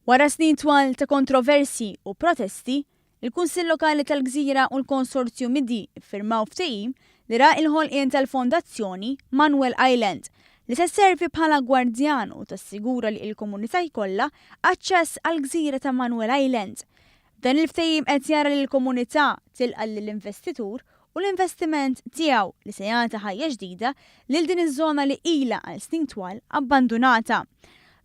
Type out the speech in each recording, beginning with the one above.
Wara snin twal ta' kontroversji u protesti, il-Kunsill Lokali tal-Gżira u l-Konsorzju Midi ffirmaw ftehim li ra il-ħolqien tal-Fondazzjoni Manuel Island, li se sservi bħala gwardjan u tassigura li il-komunità jkollha aċċess għall-gżira ta' Manuel Island. Dan il-ftehim qed jara li l-Komunità tilqa' lill-investitur u l-investiment tiegħu li se jagħti ħajja ġdida lil din iż-żona li ilha għal snin twal abbandunata.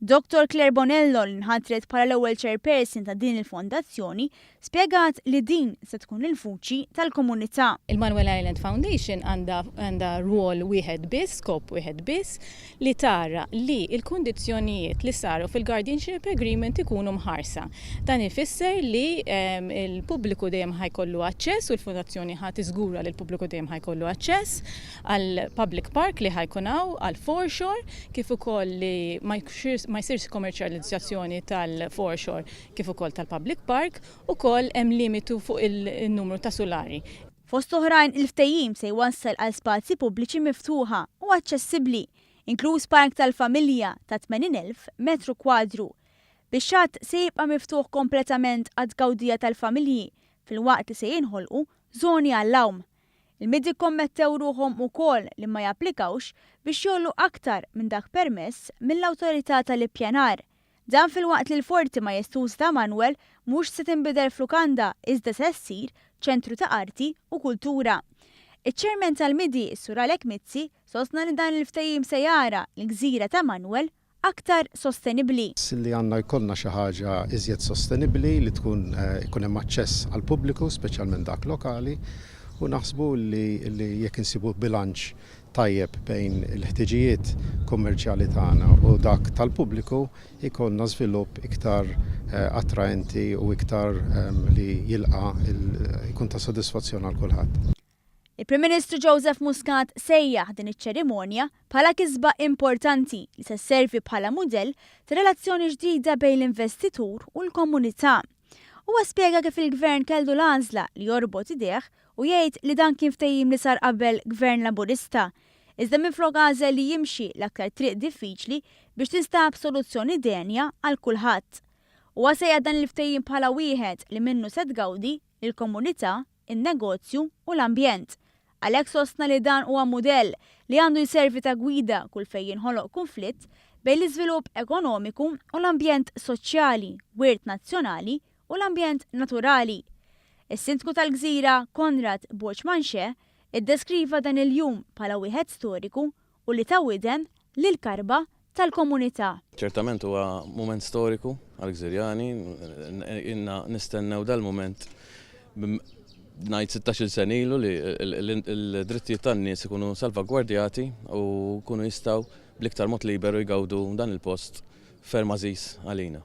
Dottor Claire Bonello li nħatret bħala l-ewwel Chairperson ta' din il-Fondazzjoni spjegat li din se tkun il-vuċi tal-komunità. Il-Manuel Island Foundation għandha rwol wieħed biss, skop wieħed biss, li tara li l-kundizzjonijiet li saru fil-guardianship agreement ikunu mħarsa. Dan ifisser li l-pubbliku dejjem ħa jkollu aċċess u l-Fundazzjoni ħa tiżgura li l-pubbliku dejjem ħa jkollu aċċess għall-public park li ħa jkun hawn, għall-foreshore, kif ukoll li ma jsirx komerċjalizzazzjoni tal-foreshore kif ukoll tal-public park. Ukoll hemm limitu fuq in-numru ta' sulari. Fost l-oħrajn, il-ftehim se jwassal għal spazji pubbliċi miftuħa u aċċessibbli, inkluż park tal-familja ta' 80,000 metru kwadru. Bix-xatt se jibqa' miftuħ kompletament għat-tgawdija tal-familji filwaqt li se jinħolqu żoni għall-għawm. Il-MID ikkommettew ruħhom ukoll li ma japplikawx biex jgħollu aktar minn dak permess mill-Awtorità tal-Ippjanar. Dan filwaqt li l-Forti Majestużi ta' Manwel mhux se tinbidel f'lukanda iżda se ssir ċentru ta' arti u kultura. Iċ-Chairman tal-MIDI, is-Sur Alec Mizzi, sostna li dan il-ftehim se jara l-gżira ta' Manwel aktar sostenibbli. li għandna jkollna xi ħaġa iżjed sostenibbli li tkun ikun hemm aċċess għall-pubbliku speċjalment dak lokali u naħsbu li jekk insibu bilanċ tajjeb bejn il-ħtiġijiet kummerċjali tagħna u dak tal-pubbliku, jkollna żvilupp iktar attraenti u iktar li jilqa' jkun ta' sodisfazzjon għal kulħadd. Il-Prim Ministru Joseph Muscat sejjaħ din iċ-ċerimonja bħala kisba importanti li se sservi bħala mudell ta' relazzjoni ġdida bejn l-investitur u l-komunità. Huwa spjega kif il-Gvern kellu l-għażla li jorbot idejh u jgħid li dan kien ftehim li sar qabel Gvern Laburista, iżda minflok għażel li jimxi l-aktar triq diffiċli biex tinstab soluzzjoni denja għal kulħadd. Huwa sejjaħ dan il-ftehim bħala wieħed li minnu se tgawdi l-komunità, in-negozju u l-ambjent. Għalhekk sostna li dan huwa mudell li għandu jservi ta' gwida kull fejn jinħoloq kunflitt bejn l-iżvilupp ekonomiku u l-ambjent soċjali, wirt nazzjonali u l-ambjent naturali. Is-Sindku tal-Gżira, Konrad Boċmanxè, iddeskriva dan il-jum bħala wieħed storiku u li ta widen lill-karba tal-komunità. Ċertament huwa mument storiku għall-Gżirjani. Ilna nistennew dal-mument ngħid sittax-il sen ilu li l-drittijiet tan-nies ikunu salvagwardjati u jkunu jistgħu bl-iktar mod liberu jgawdu dan il-post ferm għażiż għalina.